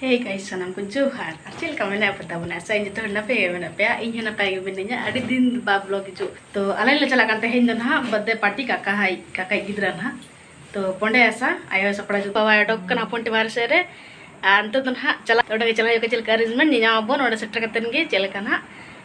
ᱦᱮᱸ ᱜᱟᱭ ᱥᱟᱱᱟᱢ ᱠᱚ ᱡᱚᱦᱟᱨ ᱟᱨ ᱪᱮᱫ ᱞᱮᱠᱟ ᱢᱮᱱᱟᱜ ᱯᱮ ᱛᱟᱵᱚᱱᱟ ᱟᱥᱟ ᱤᱧ ᱡᱚᱛᱚ ᱦᱚᱲ ᱱᱟᱯᱟᱭ ᱜᱮ ᱢᱮᱱᱟᱜ ᱯᱮᱭᱟ ᱤᱧ ᱦᱚᱸ ᱱᱟᱯᱟᱭ ᱜᱮ ᱢᱤᱱᱟᱹᱧᱟ ᱟᱹᱰᱤ ᱫᱤᱱ ᱵᱟ ᱵᱞᱚᱜ ᱦᱤᱡᱩᱜ ᱛᱚ ᱟᱞᱮ ᱞᱮ ᱪᱟᱞᱟᱜ ᱠᱟᱱ ᱛᱮᱦᱮᱧ ᱫᱚ ᱱᱟᱦᱟᱜ ᱵᱟᱨᱛᱷᱰᱮ ᱯᱟᱨᱴᱤ ᱠᱟᱠᱟ ᱦᱟᱭ ᱠᱟᱠᱟᱭ ᱜᱤᱫᱽᱨᱟᱹ ᱱᱟᱦᱟᱜ ᱛᱚ ᱯᱚᱸᱰᱮ ᱟᱥᱟ ᱟᱭᱳ ᱥᱟᱯᱲᱟᱣ ᱡᱚᱛᱚ ᱵᱟᱵᱟᱭ ᱚᱰᱚᱠ ᱠᱟᱱᱟ ᱦᱚᱯᱚᱱ ᱴᱤ ᱵᱟᱨᱦᱮ ᱥᱮᱫ ᱨᱮ ᱟᱨ ᱱᱤᱛᱚᱜ ᱫᱚ ᱱᱟᱦᱟᱜ ᱪᱟᱞᱟᱜ ᱚᱸᱰᱮ ᱜᱮ ᱪᱟᱞᱟᱜ ᱦᱩᱭᱩᱜᱼᱟ ᱪᱮᱫ ᱞᱮᱠᱟ ᱟᱨᱮᱧᱡᱽᱢᱮᱱᱴ ᱧᱮᱧᱟᱢ ᱟᱵᱚᱱ ᱚᱸᱰᱮ ᱥᱮᱴᱮᱨ ᱠᱟᱛᱮᱫ ᱜᱮ ᱪᱮᱫ ᱞᱮᱠᱟ ᱱᱟᱦᱟᱜ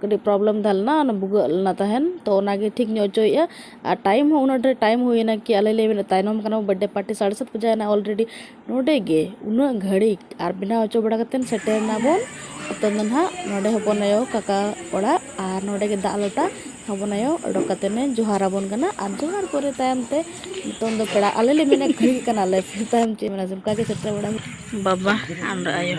ᱠᱟᱹᱴᱤᱡ ᱯᱨᱚᱵᱞᱮᱢ ᱛᱟᱦᱮᱸ ᱞᱮᱱᱟ ᱚᱱᱟ ᱵᱷᱩᱜᱟᱹᱜ ᱞᱮᱱᱟ ᱛᱟᱦᱮᱱ ᱛᱚ ᱚᱱᱟᱜᱮ ᱴᱷᱤᱠ ᱧᱚᱜ ᱦᱚᱪᱚᱭᱮᱜᱼᱟ ᱟᱨ ᱴᱟᱭᱤᱢ ᱦᱚᱸ ᱩᱱᱟᱹᱜ ᱰᱷᱮᱨ ᱴᱟᱭᱤᱢ ᱦᱩᱭᱱᱟ ᱠᱤ ᱟᱞᱮ ᱞᱮ ᱢᱮᱱᱮᱜ ᱛᱟᱭᱱᱚᱢ ᱠᱟᱱᱟ ᱵᱚᱱ ᱵᱟᱨᱛᱷᱰᱮ ᱯᱟᱨᱴᱤ ᱥᱟᱲᱮ ᱥᱟᱛ ᱵᱟᱡᱟᱣᱱᱟ ᱚᱞᱨᱮᱰᱤ ᱱᱚᱰᱮ ᱜᱮ ᱩᱱᱟᱹᱜ ᱜᱷᱟᱹᱲᱤᱡ ᱟᱨ ᱵᱮᱱᱟᱣ ᱦᱚᱪᱚ ᱵᱟᱲᱟ ᱠᱟᱛᱮᱫ ᱥᱮᱴᱮᱨ ᱱᱟᱵᱚᱱ ᱱᱤᱛᱚᱝ ᱫᱚ ᱦᱟᱸᱜ ᱱᱚᱰᱮ ᱦᱚᱯᱚᱱ ᱟᱭᱳ ᱠᱟᱠᱟ ᱚᱲᱟᱜ ᱟᱨ ᱱᱚᱰᱮ ᱜᱮ ᱫᱟᱜ ᱞᱚᱴᱟ ᱦᱚᱯᱚᱱ ᱟᱭᱳ ᱚᱰᱚᱠ ᱠᱟᱛᱮᱫ ᱮ ᱡᱚᱦᱟᱨ ᱟᱵᱚᱱ ᱠᱟᱱᱟ ᱟᱨ ᱡᱚᱦᱟᱨ ᱯᱚᱨᱮ ᱛᱟᱭᱚᱢ ᱛᱮ ᱱᱤᱛᱚᱝ ᱫᱚ ᱯᱮᱲᱟ ᱟᱞᱮ ᱞᱮ ᱢᱮᱱᱮᱜ ᱠᱟᱱᱟᱞᱮ ᱯᱷᱤᱨ ᱛᱟᱭᱚᱢ ᱪᱮᱫ ᱮᱢ ᱢᱮᱱᱟ ᱚᱱᱠᱟᱜᱮ ᱥᱮᱴᱮᱨ ᱵᱟᱲᱟ ᱦᱩᱭᱱᱟ ᱵᱟᱵᱟ ᱟᱨ ᱟᱭᱳ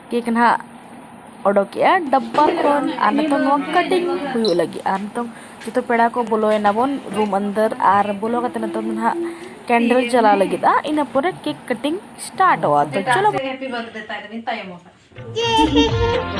ᱠᱮᱠ ᱱᱟᱦᱟᱜ ᱚᱰᱚᱠᱮᱜᱼᱟ ᱰᱟᱵᱵᱟ ᱠᱷᱚᱱ ᱟᱨ ᱱᱤᱛᱚᱝ ᱱᱚᱣᱟ ᱠᱟᱴᱤᱝ ᱦᱩᱭᱩᱜ ᱞᱟᱹᱜᱤᱫ ᱟᱨ ᱱᱤᱛᱚᱝ ᱡᱚᱛᱚ ᱯᱮᱲᱟ ᱠᱚ ᱵᱚᱞᱚᱭᱮᱱᱟ ᱵᱚᱱ ᱨᱩᱢ ᱟᱱᱫᱟᱨ ᱟᱨ ᱵᱚᱞᱚ ᱠᱟᱛᱮ ᱱᱤᱛᱚᱝ ᱫᱚ ᱱᱟᱦᱟᱜ ᱠᱮᱱᱰᱮᱞ ᱡᱟᱞᱟᱣ ᱞᱟᱹᱜᱤᱫᱼᱟ ᱤᱱᱟᱹ ᱯᱚᱨᱮ ᱠᱮᱠ ᱠᱟᱴᱤᱝ ᱥᱴᱟᱨᱴᱚᱜᱼᱟ ᱛᱚ ᱪᱚᱞᱚ ᱦᱮᱯᱤ ᱵᱟᱨᱛᱷᱰᱮ ᱛᱟᱭ ᱫᱚᱵᱤᱱ ᱛᱟᱭᱚᱢ ᱟᱠᱟᱱᱟ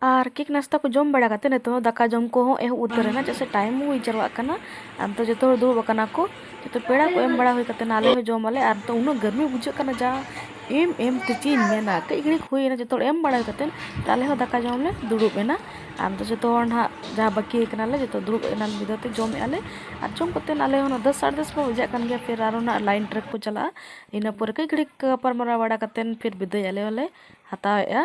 ᱟᱨ ᱠᱮᱠ ᱱᱟᱥᱛᱟ ᱠᱚ ᱡᱚᱢ ᱵᱟᱲᱟ ᱠᱟᱛᱮ ᱱᱤᱛᱚᱜ ᱫᱟᱠᱟ ᱡᱚᱢ ᱠᱚᱦᱚᱸ ᱮᱦᱚᱵ ᱩᱛᱟᱹᱨ ᱮᱱᱟ ᱪᱮᱫᱟᱜ ᱥᱮ ᱴᱟᱭᱤᱢ ᱦᱩᱭ ᱡᱟᱨᱣᱟᱜ ᱠᱟᱱᱟ ᱟᱨ ᱱᱤᱛᱚᱜ ᱡᱚᱛᱚ ᱦᱚᱲ ᱫᱩᱲᱩᱵ ᱟᱠᱟᱱᱟ ᱠᱚ ᱡᱚᱛᱚ ᱯᱮᱲᱟ ᱠᱚ ᱮᱢ ᱵᱟᱲᱟ ᱦᱩᱭ ᱠᱟᱛᱮ ᱟᱞᱮ ᱦᱚᱸ ᱡᱚᱢ ᱟᱞᱮ ᱟᱨ ᱱᱤᱛᱚᱜ ᱩᱱᱟᱹᱜ ᱜᱟᱹᱨᱢᱤ ᱵᱩᱡᱷᱟᱹᱜ ᱠᱟᱱᱟ ᱡᱟ ᱮᱢ ᱮᱢ ᱛᱮ ᱪᱮᱫ ᱤᱧ ᱢᱮᱱᱟ ᱠᱟᱹᱡ ᱜᱷᱟᱹᱲᱤᱡ ᱦᱩᱭᱮᱱᱟ ᱡᱚᱛᱚ ᱦᱚᱲ ᱮᱢ ᱵᱟᱲᱟ ᱦᱩᱭ ᱠᱟᱛᱮ ᱟᱞᱮ ᱦᱚᱸ ᱫᱟᱠᱟ ᱡᱚᱢ ᱞᱮ ᱫᱩᱲᱩᱵ ᱮᱱᱟ ᱟᱨ ᱱᱤᱛᱚᱜ ᱡᱚᱛᱚ ᱦᱚᱲ ᱱᱟᱦᱟᱜ ᱡᱟᱦᱟᱸ ᱵᱟᱹᱠᱤ ᱟᱠᱟᱱᱟᱞᱮ ᱡᱚᱛᱚ ᱫᱩᱲᱩᱵ ᱮᱱᱟ ᱢᱤᱫ ᱫᱷᱟᱣ ᱛᱮ ᱡᱚᱢᱮᱫ ᱟᱞᱮ ᱟᱨ ᱡᱚᱢ ᱠᱟᱛᱮ ᱟᱞᱮ ᱦᱚᱸ ᱫᱚᱥ ᱥᱟᱲᱮ ᱫᱚᱥ ᱠᱚ ᱵᱟᱡᱟᱜ ᱠᱟᱱ ᱜᱮᱭᱟ ᱯᱷᱤᱨ ᱟᱨᱚ ᱱᱟᱦᱟᱜ ᱞᱟᱭᱤᱱ ᱴᱨᱮᱠ ᱠᱚ ᱪᱟᱞᱟᱜᱼᱟ ᱤᱱᱟᱹ ᱯᱚᱨᱮ ᱠᱟᱹᱡ ᱜᱷᱟᱹᱲᱤᱡ ᱜᱟᱯᱟᱞᱢᱟᱨᱟᱣ ᱵᱟᱲᱟ ᱠᱟᱛᱮ ᱯᱷᱤᱨ ᱵᱤᱫᱟᱹᱭ ᱟᱞᱮ ᱦᱚᱸᱞᱮ ᱦᱟᱛᱟᱣᱮᱜᱼᱟ